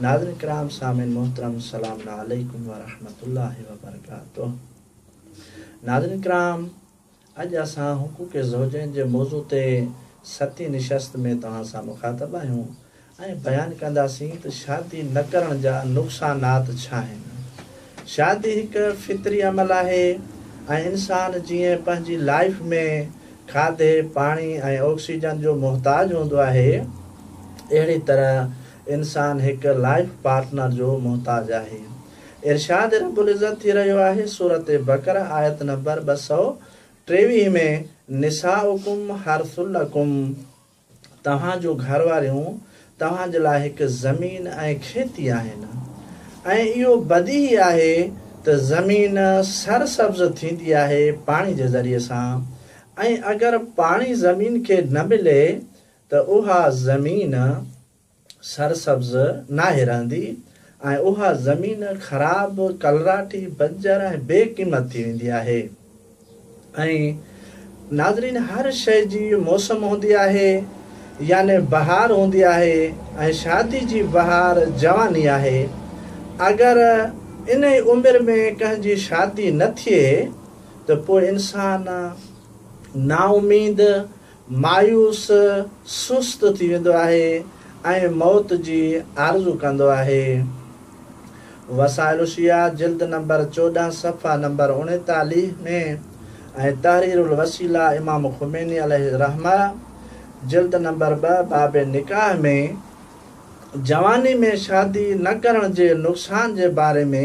ناظرين ڪرام سامعين محترم سلام عليڪم ورحمة الله وبرڪاته ناظرين ڪرام اڄ اسان حقوق زوجين جي موضوع تي ستين نشست ۾ توهان سان مخاطب آهيون ۽ بيان ڪنداسين ته شادي نه ڪرڻ جا نقصانات ڇا آهن شادي هڪ فطري عمل آهي ۽ انسان جيئن پنهنجي لائيف ۾ کاڌي پاڻي ۽ آڪسيجن جو محتاج هوندو آهي اهڙي طرح انسان هڪ لائيف پارٽنر جو محتاج آهي. ارشاد رب العزت ٿي رهيو آهي سورة بقره آيت نمبر ٻه سؤ ٽيويهه ۾ نساؤڪم حرث لڪم توهان جون گهر واريون توهان جي لاء هڪ زمين ۽ کيتي آهن ۽ اهو بديهي آهي ته زمين سر سبز ٿيندي آهي پاڻي جي ذريعي سان ۽ اگر پاڻي زمين کي نه ملي ته اها زمين سرسبز ناهي رهندي ۽ اها زمين خراب، ڪلراٽي، بنجر ۽ بي قيمت ٿي ويندي آهي ۽ ناظرين هر شيء جي موسم هوندي آهي يعني بهار هوندي آهي ۽ شادي جي بهار جواني آهي اگر انهي عمر ۾ ڪنهن جي شادي نه ٿئي ته پوء انسان نااميد مايوس سست ٿي ويندو آهي ۽ موت جي آرزو ڪندو آهي. وسائل الشيعه جلد نمبر چوڏهن صفحه نمبر اڻيتاليهه ۾ ۽ تحرير الوسيله امام خميني عليه الرحمه جلد نمبر ٻه باب نڪاح ۾ جواني ۾ شادي نه ڪرڻ جي نقصان جي باري ۾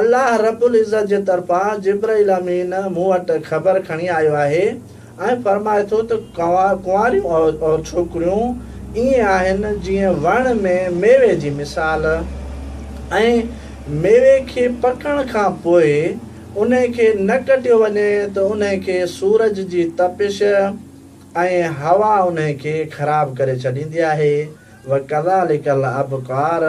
الله رب العزت جي طرفان جبرئيل امين مون وٽ خبر کڻي آيو آهي ۽ فرمائي ٿو ته ڪنواريون عورتون، ڇوڪريون، ائين آهن جيئن وڻ ۾ ميوي جي مثال ۽ ميوي کي پڪڻ کان پوء انهي کي نه ڪٽيو وڃي ته انهي کي سورج جي تپش ۽ هوا انهي کي خراب ڪري ڇڏيندي آهي وڪذلڪ الابڪار.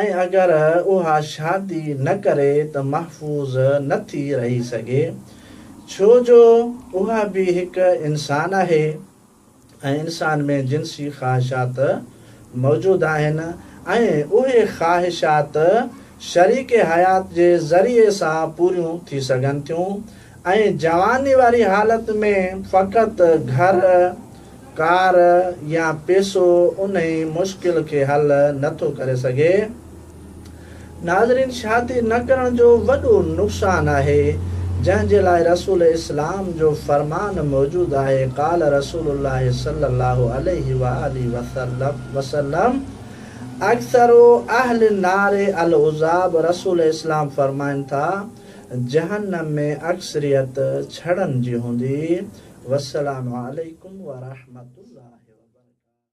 ۽ اگر اها شادي نه ڪري ته محفوظ نه ٿي رهي سگهي ڇو جو اها به هڪ انسان آهي ۽ انسان ۾ جنسي خواهشات موجود آهن ۽ اهي خواهشات شريڪ حيات جي ذريعي سان پوريون ٿي سگهن ٿيون ۽ جواني واري حالت ۾ فقط گهر ڪار يا پيسو انهي مشڪل کي حل نه ٿو ڪري سگهي. ناظرين شادي نه ڪرڻ جو وڏو نقصان آهي جنهن جي لاء رسول اسلام جو فرمان موجود آهي قال رسول الله صلي الله عليه وآله وسلم اکثر اهل النار العذاب رسول اسلام فرمائن ٿا جهنم ۾ اڪثريت ڇڙن جي هوندي. والسلام عليڪم ورحمة الله وبرڪاته.